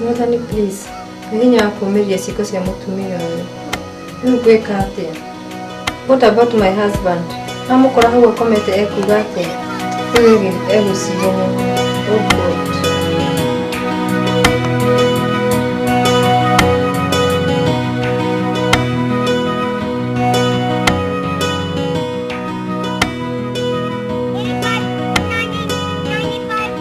mwathani please nĩ hinya wa kũũmĩria ciĩko cia mũtumia ũyũ rĩu ngwĩka atĩa what about my husband amũkora hau akomete ekuga atĩa rĩu ĩgĩ- egũciria mũno oh God.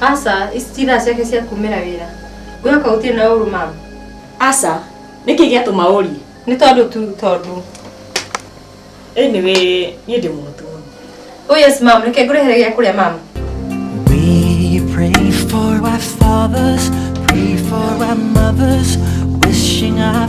Aca, ici ti thaa ciake cia kumĩra wĩra. Gwĩka kau ũtirĩ na ũru ma. Aca, nĩkĩ gĩatũma ũrie? Nĩ tondũ tu tondũ. Anyway, niĩ ndĩ mũhũtu mũno. Oh yes ma'am, reke ngũrehere gĩa kũrĩa ma'am. We pray for our fathers, pray for our mothers, wishing our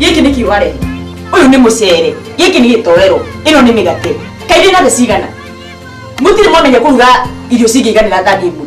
gĩkĩ nĩ kiuga rĩ ũyũ nĩ mũcere gĩkĩ nĩ gĩtoero ĩno nĩ mĩgate kairĩ na thĩ cigana mũtirĩ mwamenya kũruga irio cingĩiganĩra thani ĩmwe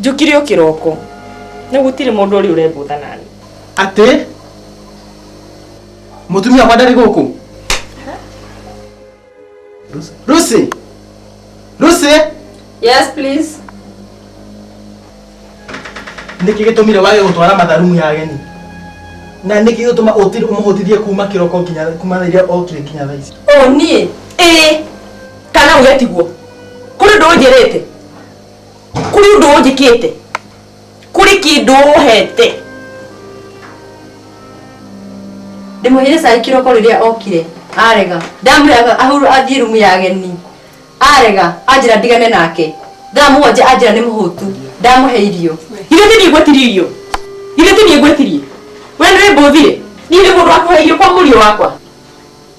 njũkire o kĩroko rĩu gũtirĩ mũndũ ũrĩ ũrembũtha nani atĩ mũtumia wa ndarĩ gũkũ Lucy Lucy yes please niki nĩkĩ gĩtũmire wage gũtwara matharumu ya ageni na niki gĩtũma ũmũhũtithie kuma kĩroko nginya kuma rĩrĩa okire nginya thaa ici o niĩ ĩĩ kana uge tiguo kũrĩ ndũnjĩrĩte kuri undu unjikite kuri kindu uhete ndimuhire cai kiroko riria okire arega ndamwira ahuru athie rumu ya ageni arega anjira ndigane nake thaa mugwanja anjira ni muhutu ndamuhe irio ithe ti niä gwetirie irio ithe ti niä gwetirie we nä rä mbå thire niä nä må ndå wakuhe irio kwa må riå wakwa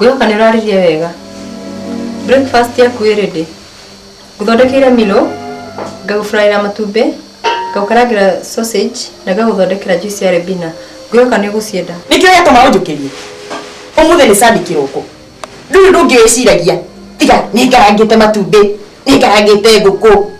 Wĩhoka nĩ ũrarĩria wega. Breakfast yaku ĩ ready. Ngũthondekeire milo, ngagũfraĩra matumbĩ, ngagũkarangĩra sausage na ngagũthondekera juice ya rebina. Ngwĩhoka nĩ ũgũcienda. Nĩkĩo gĩatũma ũnjũkĩrie. Ũmũthĩ nĩ Sunday kĩroko. Ndũrĩ ũndũ ũngĩ wĩciragia tiga nĩngarangĩte matumbĩ, nĩngarangĩte ngũkũ.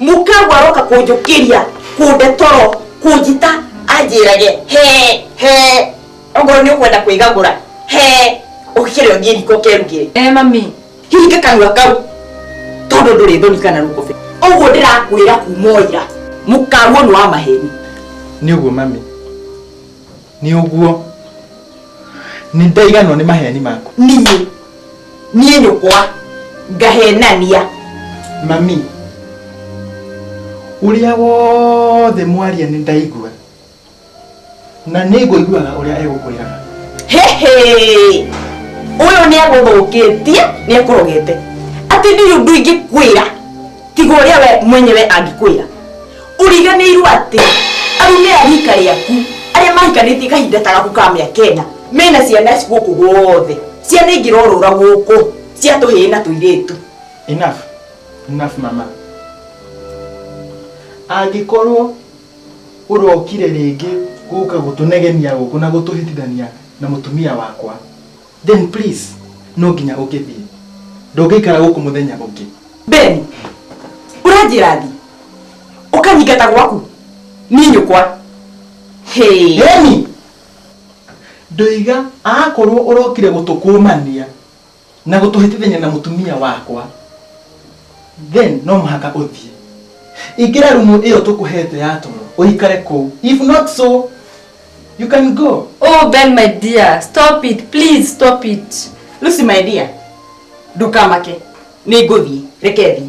mũkagwa aroka kũnjũkĩria kũnde toro kũnjita anjĩrage he he ongorwo nĩ ũkwenda kwĩgagũra he ũkĩre ũthiĩ riko kerugĩre e mami hinga kanua kau tondũ ndũrĩ thoni kana rũkũbe ũguo ndĩrakwĩra kuma ira mũkaguo nĩ wa maheni nĩ ũguo mami nĩ ũguo nĩ ndaiganwo nĩ maheni maku niĩ niĩ nyũkwa ngahenania mami ũrĩa wothe mwaria nĩ ndaigua na nĩ ngũiguaga ũrĩa egũkwĩraga hehe ũyũ nĩ agũthũkĩtie nĩ ekũrogete atĩ ndirĩ ũndũ ingĩkwĩra tiga ũrĩa we mwenyewe angĩkwĩra ũriganĩirwo atĩ arume a rika rĩaku arĩa mahikanĩtie kahinda ta gaku ka mĩaka ĩna mena ciana ici gũkũ guothe ciana ingĩrorũra gũkũ cia tũhĩĩ na tũirĩtu enough enough mama angĩkorwo ũrokire rĩngĩ gũka gũtũnegenia gũkũ na gũtũhĩtithania na mũtumia wakwa Then please, no nginya ũngĩthiĩ. Ndũngĩikara gũkũ mũthenya ũngĩ. Ben, ũranjĩra thi. Ũkanyingata gwaku. Niĩ nyũkwa. Hey. Emi! Ndoiga akorwo ũrokire gũtũkũmania na gũtũhĩtithania na mũtumia wakwa. then no mũhaka ũthiĩ ingĩra rumu ĩyo tũkũhete ya toro ũikare kũu if not so you can go oh ben my dear stop it please stop it lucy my dear ndũkamake nĩ ngũthiĩ reke thiĩ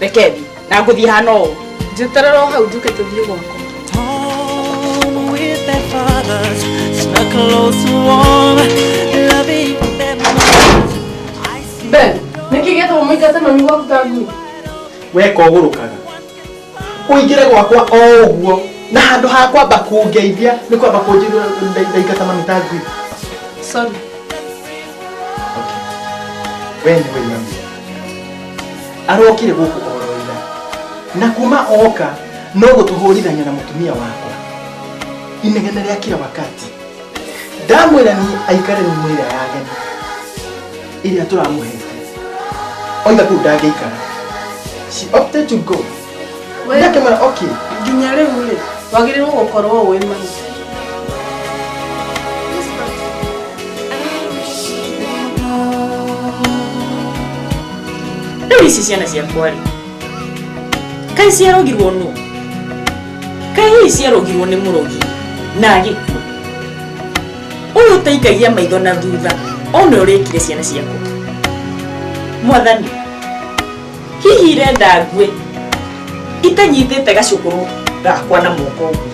reke thiĩ na ngũthiĩ hana ũũ njĩterera o hau njuke tũthiĩ gwakwa Home with their fathers, snuck close to warm, loving their mothers. I see Ben, nĩkĩ gĩtũma mũingate mami gwaku ta ngui? weka ũgũrũkaga ũingĩre gwakwa o ũguo na handũ ha kwamba kũngeithia nĩ kwamba kũnjĩra ndaingata mami ta ngui Sorry. we nĩ wĩnyamia arokire gũkũ oroira na kuma oka no gũtũhũrithania na mũtumia wakwa inegene rĩa kila wakati ndamwĩra ni aikare ni mwĩra ya ageni ĩrĩa tũramũhete oiga kũu ndangĩikara she opted to go ndakĩmwĩra okay nginya rĩu rĩ wagĩrĩirwo gũkorwo wĩ maitũ rĩu ici ciana ciakwa rĩ kaĩ ciarogirwo nũ kaĩ hihi ciarogirwo nĩ mũrogi na gĩkuũ ũyũ ũtaikagia maitho na thutha one ũrĩkire ciana ciakwa mwathani hihi irenda ngue itanyitĩte gacũkũrũ gakwa na moko ũguo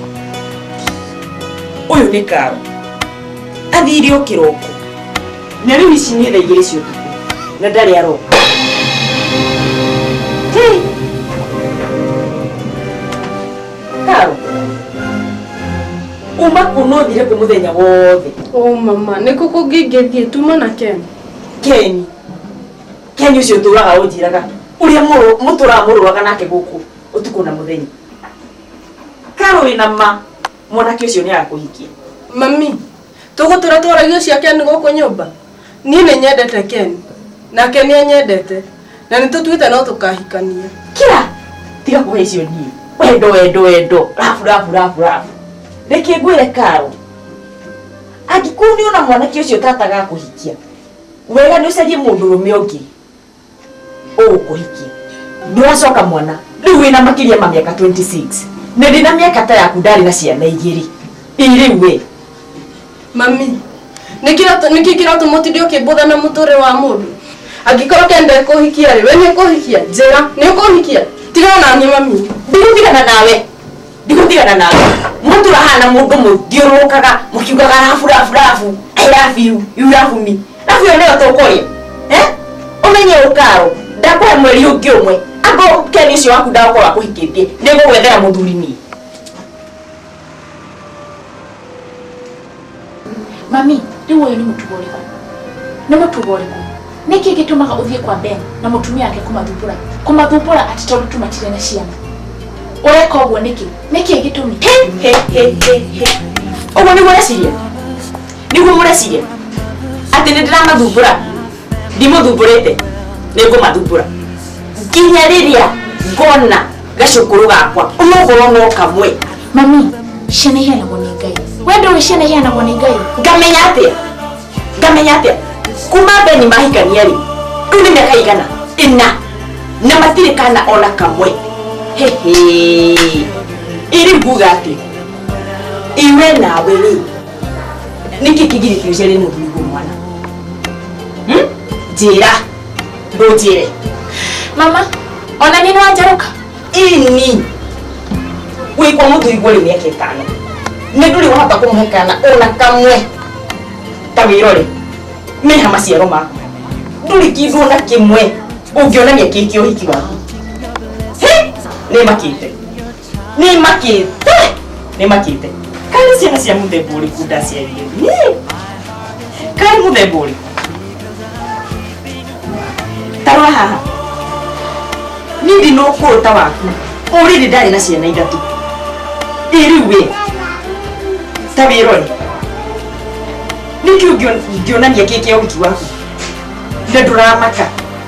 ũyũ nĩ karo athire o kĩroko na rĩu ici nĩ thaa igĩrĩ cia ũtukũ na ndarĩ aroka Hey! karo uma kuona ũthire kwĩ mũthenya wothe o mama nĩkũ kũngĩ ingĩthiĩ tuma na ken keni kenya ucio turaga unjiraga uria muturaga muruaga nake guku utuku na muthenya karo wina ma mwanake ucio ni akuhikia mami tugutura twaragia cia ken guku nyumba nie ni nyendete ken nake ni anyendete na ni tutuite no tukahikania kira tiga kuhe icio nie wendo wendo wendo rabu rabu rabu rabu reke ngwire karo angikorwo ni ona mwanake ucio tataga kuhikia wega nä å carie må ndå rå me å ngä å gå kå hikie ndå racoka mwana rä u wä na makä ria ma mä aka 26 nä ndä na mä aka ta yaku ndarä na ciana igä rä ä rä u we mami nĩkĩ kĩratũ mũtindi ũkĩmbũtha na mũtũrĩ wa mũndũ angĩkorwo kenda kũhikia rĩ we nĩ kũhikia njĩra nĩ kũhikia tigana naniĩ mami ndirĩtigana nawe ndigũtigana nawe mũndũ ũrahana mũndũ mũthiũrũrũkaga mũkiugaga rabu rabu rabu I love you, you love me rabu ĩyo nĩyo tũkũrĩa Eh? ũmenye ũkaro ndakũhe mweri ũngĩ ũmwe angorwo keni ũcio waku ndagũkorwo akũhikĩtie nĩngũgwethera mũthuri niĩ mami rĩu ũyũ nĩ mũtugo ũrĩkũ nĩ mũtugo ũrĩkũ nĩkĩ gĩtũmaga ũthiĩ kwa ben na mũtumia wake kũmathumbũra kũmathumbũra atĩ tondũ tũmatire na ciana ũreka ũguo nĩkĩ nĩkĩ gĩtũmi ũguo nĩguo ũreciria nĩguo mũreciria atĩ nĩ ndĩramathumbũra ndimũthumbũrĩte nĩ ngũmathumbũra nginya rĩrĩa ngona gacũkũrũ gakwa ũnogoro no kamwe mami ciana iheanagwo nĩ ngai we ndũĩ ciana iheanagwo nĩ ngai ngamenya atĩa ngamenya atĩa kuma beni mahikania rĩ rĩu nĩ mĩaka igana ĩna na matirĩ kana ona kamwe hehe ĩrĩ nguga atĩ iwe nawe rĩ nĩkĩ kĩgirĩtĩirie rĩ mũthuri mwana njĩra hmm? ndunjire mama ona ni nwanjaruka ini gwikwa muthuri gwari miaka itano ni nduri wahota kumuhe kana ona kamwe ta wirori meha maciaro maku nduri kindu ona kimwe ungionania kiki uhiki waku He! ni makite Nĩ makĩte. Nĩ makĩte. Kaĩ ciana cia mũthemba ũrĩkũ ndaciarire? Nĩ. Kaĩ mũthemba ũrĩkũ? Tarora haha. Niĩ ndinũ ũkũrũ ta waku. Ũrĩrĩ ndarĩ na ciana ithatũ. Ĩ rĩu wĩ. Ta wĩrore. Nĩkĩ ũngĩonania kĩkĩ ũhiki waku? Na ndũramaka.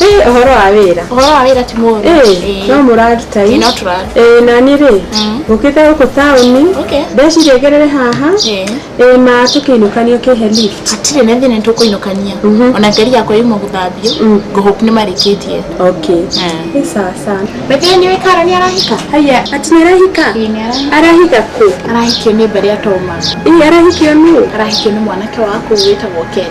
Ĩ, ũhoro wa wĩra Ũhoro wa wĩra ti mũru. Ĩ, Ĩĩ. no mũraruta Ĩĩ, ĩ no tũraruta. Ĩĩ, nani rĩ Mm. ngũkĩte gũkũ taũni Okay. ndeciria ngerere haha Ĩĩ. ĩĩ ma tũkĩinũkania ũkĩhe lift Hatirĩ na thĩna nĩtũkũinũkania. Mhm. Ona ngari yakwa yuma gũthambio, Mm. ngo hope nĩmarĩkĩtie. okay Eh. ĩ sawa sawa By the way, nĩũĩ Kara nĩarahika? haya ati nĩarahika Ĩĩ, nĩarahika. arahika kũ Arahikio nĩ mbarĩ atoma. ĩ arahikio nũ Arahikio nĩ mwanake wa kũu wĩtagwo Ken.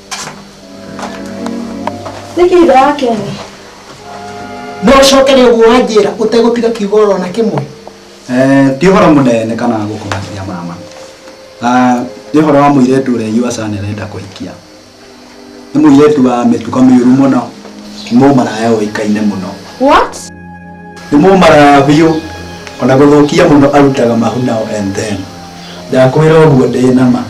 nĩkĩ ithe wa keni no ũcokere ũguo wanjĩra ũtegũtiga kiugo oro na kĩmwe Eh, ti ũhoro mũnene kana gũkũmakia mama Ah, nĩ ũhoro wa mũirĩtu ũrĩa yuaca nĩrenda kũhikia nĩ mũirĩtu wa mĩtuka mĩũru mũno nĩ mũmaraya ũĩkaine mũno what nĩ mũmaraya biũ ona gũthũkia mũno arutaga mahunao and then ndakwĩra ũguo ndĩ nama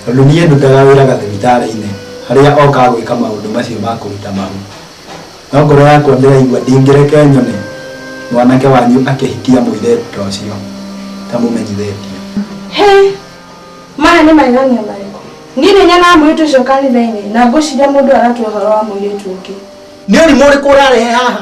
tondũ niĩ ndutaga wĩra gathibitarĩ-inĩ harĩa okaga gwĩka maũndũ macio ma kũruta mahu. No ngoro yakwa ndĩraigua ndingĩreke nyone mwanake wanyu akĩhikia mũirĩtu ta ũcio itamũmenyithĩtie. Hĩ! Maya nĩ magegania marĩkũ? Niĩ nĩ nyonaga mũirĩtu ũcio kanitha-inĩ na ngwĩciria mũndũ ũyũ aratũhe ũhoro wa mũirĩtu ũngĩ. Nĩ ũrimũ ũrĩkũ ũrarehe haha?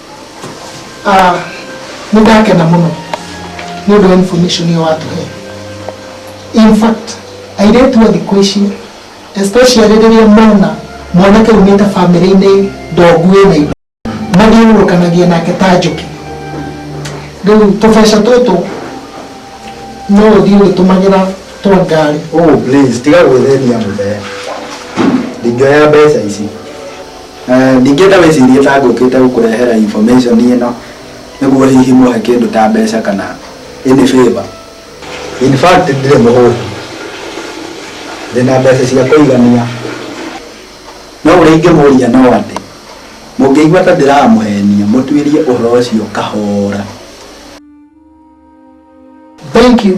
Ah, nĩ ndakena mũno nĩ ũndũ wa information ĩyo watũhe in fact airĩtu a thikũ ici especially rĩrĩa mona mwanake umĩte famĩlĩ-inĩ ndongu ĩna indo mathiũrũrũkanagia nake ta njũkĩ rĩu tũbeca tũtũ no ũthiĩ ũgĩtũmagĩra twa ngari oh please tiga gwĩthenia mũthee ndingĩoya mbeca ici Ndingĩenda wĩcirie ta ngũkĩte gũkũrehera information ĩno nĩguo hihi mũhe kĩndũ ta mbeca kana any favour. In fact ndirĩ mũhũtu. Ndĩna mbeca cia kũigania. No ũrĩa ingĩmũria no atĩ, mũngĩigua ta ndĩramũhenia, mũtuĩrie ũhoro ũcio kahora. Thank you.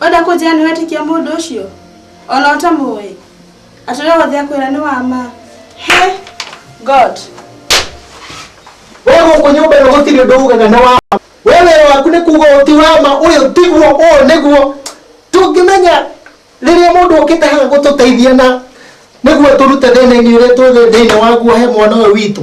Wenda kũnjĩra nĩ wetĩkia mũndũ ũcio? Ona ũtamũĩ? Atĩ ũrĩa wothe akwĩra nĩ wa ma? He! God! Wewe uko nyumba ya goti ndio uga na wa. Wewe waku ni kuga uti wa ma uyu tiguo uyu niguo. Tungimenya riria mundu ukite haha gututeithia na niguo turute thina-ini uria twĩ thĩinĩ waguo he mwana ũyũ witũ.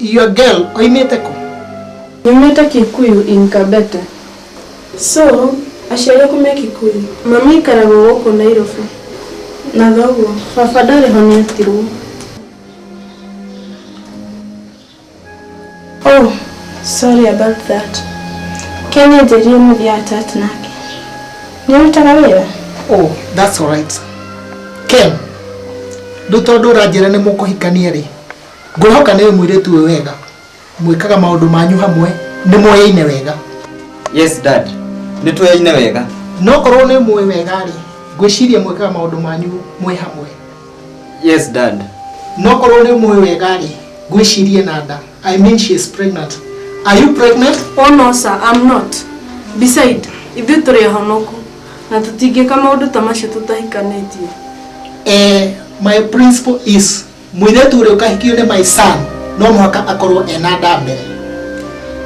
Iyo girl oimĩte kũ? Nyumĩte Kikuyu in Kabete. So aciari aku me Kikuyu? Mami aikaraga o gũkũ Nairobi na thoguo. Baba ndarĩ ho nĩ atirwo. Oh sorry about that. Ken anjĩrire mũthiaga church nake. Nĩ ũrutaga wĩra? Oh that's alright. Ken, rĩu tondũ ũranjĩra nĩ mũkũhikania rĩ? Ngwĩhoka nĩũĩ mũirĩtu ũyũ wega. Mwĩkaga maũndũ manyu hamwe, nĩmũyaine wega. Yes dad, nĩtũyaine wega. Na okorwo nĩũmũĩ wega-rĩ, ngwĩciria mwĩkaga maũndũ manyu mwĩ hamwe. Yes dad. Na okorwo nĩũmũĩ wega-rĩ, ngwĩciria ena nda. I mean she is pregnant. Are you pregnant? Oh no sir, I'm not. Beside, ithuĩ tũrĩ ahonoku na tũtingĩka maũndũ ta macio tũtahikanĩtie. Eh, my principle is. Mũirĩtu ũrĩa ũkahikio nĩ my son no mũhaka akorwo ena nda mbere.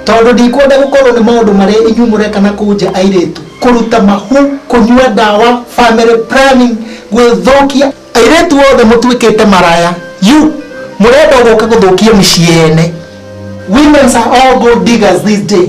Tondũ ndikwenda gũkorwo nĩ maũndũ marĩa inyuĩ mũreka na kũu nja airĩtu, kũruta mahu, kũnyua ndawa, family planning, gwĩthũkia. Airĩtu othe mũtuĩkĩte maraya you mũrenda gũka gũthũkia mĩciĩ ene. Women's are all gold diggers this day.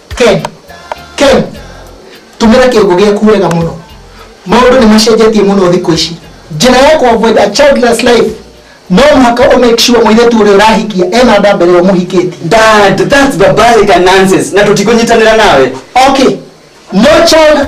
Ken, Ken, tũmĩra kĩongo gĩaku wega mũno maũndũ nĩ macenjetie mũno thikũ ici njĩra ya kuavoid a childless life no mũhaka ũ make sure mũirĩtu ũrĩa ũrahikia ena nda mbere ya ũmũhikĩtie Dad, that's barbaric and nonsense na tũtikũnyitanĩra nawe. okay no child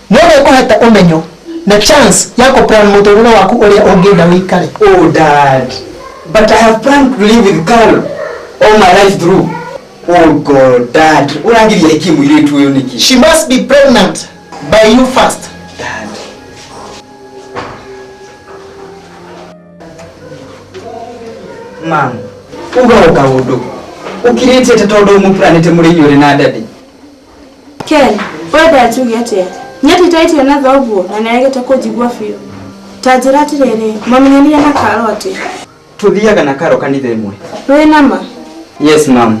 No nĩngũhete ũmenyo na chance ya kũ plan mũtũrĩre waku ũrĩa ũngĩenda ũikare. Oh dad, but I have planned to live with Carol all my life through. Oh God, dad, ũrangiria ĩkĩ mũirĩtu ũyũ nĩkĩ? She must be pregnant by you first. Dad. Ma'am, uga o kaũndũ. Ũkirĩtie atĩ tondũ mũpuranĩte mũrĩ inyuĩ na daddy. Ken, wenda njuge atĩa? Nyendete irio na thoguo na nĩaregete kũnjigua biũ. Ta njĩra atĩrĩrĩ, mwamenyanire na Karo atĩa? Tũthiaga na Karo kanitha ĩmwe. Wĩ na ma? Yes ma'am.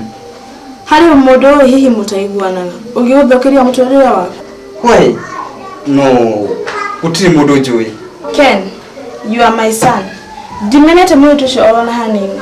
Harĩ mũndũ ũĩ hihi mũtaiguanaga ũngĩgũthũkĩria mũtũrĩre waku? Why? No, gũtirĩ mũndũ njũĩ. Ken, you are my son. Ndimenete mũirĩtu ũcio o na hanini.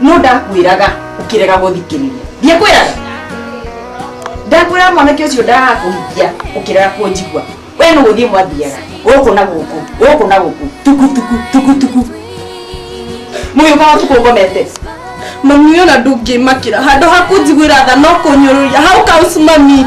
no ndakwĩraga ũkĩrega gũthikĩrĩria ndiakwĩraga ndakwĩraga mwanake ũcio ndagakũhikia ũkĩrega kũnjigua we nĩ gũthiĩ mwathiaga gũkũ na gũkũ gũkũ na gũkũ tukutuku tukutuku mũyũka wa tukũ ngomete mami ũyũ na ndũngĩmakĩra handũ ha kũnjiguĩra tha no kũnyũrũria how comes mami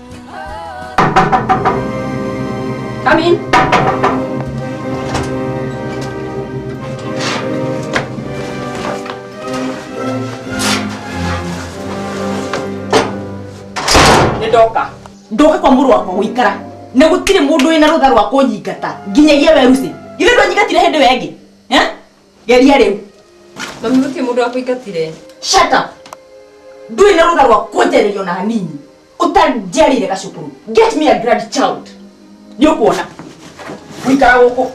Come in. Nĩndoka. Ndoka kwa mũrũ wakwa gũikara. Na gũtirĩ mũndũ wĩna rũtha rwa kũnyingata. Nginyagia weruce. Ithe ndwanyingatire hĩndĩ ĩyo ĩngĩ. Eh? Geria rĩu. Mami gũtirĩ mũndũ wakũingatire. Shut up. Ndũrĩ na rũtha rwa kũnjarĩria ona hanini. Ũtanjarĩire gacukuru. Get me a grandchild. Nĩ ũkuona. Gũikara gũkũ.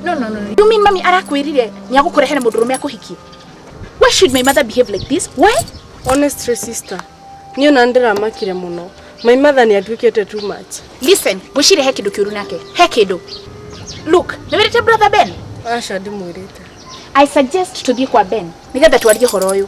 No, no, no, no. You mean mami arakwirire ni agukurehera mundu rume akuhikie? Why should my mother behave like this? Why? Honestly sister, niyo na ndĩramakire mũno. My mother nĩ atuĩkĩte too much. Listen, gwĩciria he kĩndũ kĩũru nake. He kĩndũ. Look, nĩ wĩrĩte brother Ben? Aca ndĩmwĩrĩte. I suggest tũthiĩ kwa Ben nĩgetha twarie ũhoro ũyũ.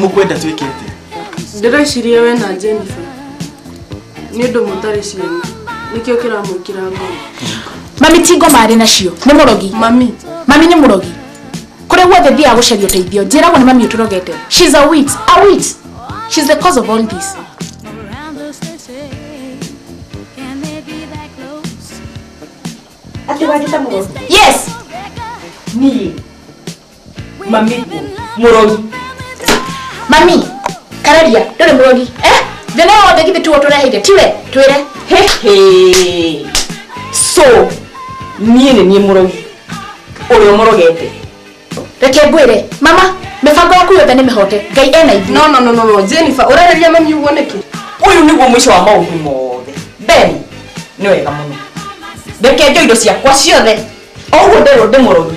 mũkwenda twĩke atĩa ndĩreciria we na jennifer nĩ ũndũ mũtarĩ ciana nĩkĩo kĩramwĩkĩra ngoro mami ti ngoma arĩ nacio nĩ mũrogi mami mami nĩ mũrogi kũrĩa guothe thiaga gũcaria ũteithio njĩragwo nĩ mami ũtũrogete she's a wit a wit she's the cause of all this Ati wagita muno. yes niĩ mami murogi mami kararia ndore murogi eh thina yothe githĩ tuo tũreheire tiwe twĩre Hehe. so niĩ nĩ niĩ mũrogi ũrĩa ũmũrogete reke ngwĩre mama mĩbango yaku yothe nĩ mĩhote ngai ena ithuĩ no no no no no Jennifer ũrereria mami ũguo nĩkĩ ũyũ nĩguo mũico wa maũndũ mothe ben nĩ wega mũno reke njo indo ciakwa ciothe o ũguo nderwo ndĩ mũrogi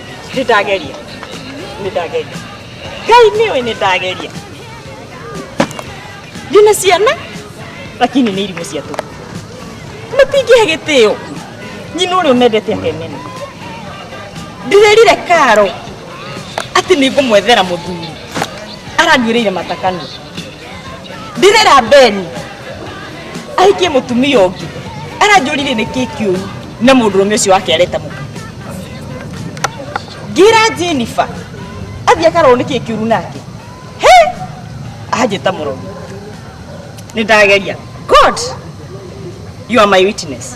nĩ ndageria nĩ ndageria ngai nĩ ũĩ nĩ ndageria ndĩna ciana lakini nĩ irimũ cia tũhu matingĩhe gĩtĩo nyina ũrĩa ũmendete akemena ndĩrerire karo atĩ nĩ ngũmwethera mũthuri aranduĩrĩire matakanu ndirĩra beni ahikie mũtumia ũngĩ aranjũrire nĩ kĩ kĩũru na mũndũrũme ũcio wake areta mũka ngira jenifa athiĩ akarorwo nĩ kĩ kĩũru nake he anjĩta mũrogi nĩ ndageria god you are my witness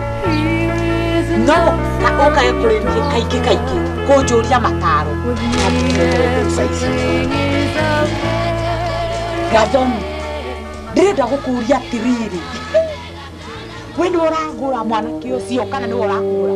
no na ũkae kũrĩ niĩ kaingĩ kaingĩ kũnjũria mataro gathomi ndĩrenda gũkũria atĩrĩrĩ we nĩ ũragũra mwanake ũcio kana nĩ ũragũra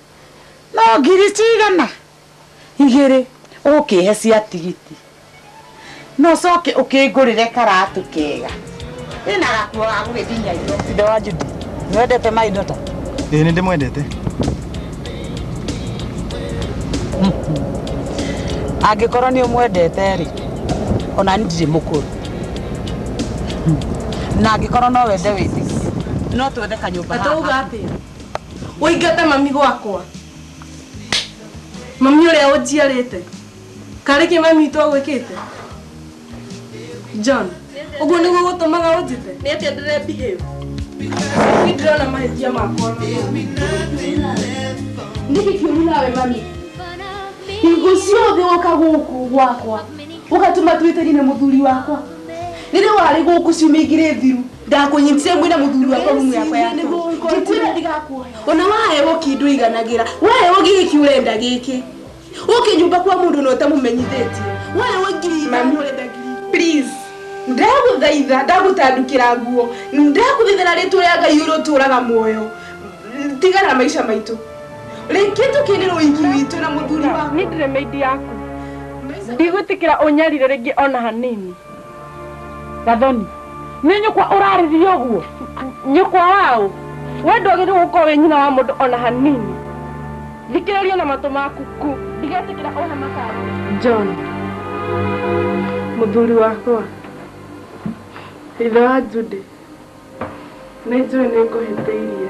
no ngiri cigana igĩrĩ ũkĩhe cia tigiti no coke ũkĩngũrĩre karatũ kega ĩna gakuo ga gũgĩthiĩ Nairobi Ithe wa Judy, nĩ wendete Mai Dota? Ĩĩ nĩ ndĩmwendete. Angĩkorwo nĩ ũmwendete rĩ, ona niĩ ndirĩ mũkũrũ. Na angĩkorwo no wende wĩtĩkie, no twethe kanyũmba haha. Atauga atĩa? ũingate mami gwakwa mami ũrĩa ũnjiarĩte karĩ kĩ mami witũ agwĩkĩte john ũguo nĩguo gũtũmaga ũnjĩte nĩ atĩa ndĩre behave nĩ ndĩrona mahĩtia makwa nĩkĩ kĩũru nawe mami hingo ciothe woka gũkũ gwakwa ũgatũma twĩtĩri na mũthuri wakwa rĩrĩa warĩ gũkũ ciumia igĩrĩ thiru ndakũnyitire mwĩna mũthuri wakwa rumu yakwa ya toro. Ngĩkwĩra ndigakuoya. ona waheo kĩndũ iganagĩra waheo gĩkĩ ũrenda gĩkĩ ũkĩ nyũmba kwa mũndũ na ũtamũmenyithĩtie waheo ngiri ithano ũrenda ngiri please ndagũthaitha ndagũtandukĩra nguo ndagũthaithana rĩtwa rĩa ngai ũrĩtũraga muoyo tigana na maica maitũ rĩngĩ tũkĩrĩrwo iki witũ na mũthuri wa nĩ ndĩrĩ meidi yaku ndigwĩtĩkĩra ũnyarire rĩngĩ ona hanini gathoni nĩ nyũkwa ũrarĩria ũguo nyũkwa waũ we ndwagĩrĩirwo gũkorwo wĩ nyina wa mũndũ ona hanini thikĩrĩria na matũ maku ku ndigetĩkĩra ũhe mataro john mũthuri wakwa ithe wa jude Nĩ njũĩ nĩ ngũhĩtĩirie.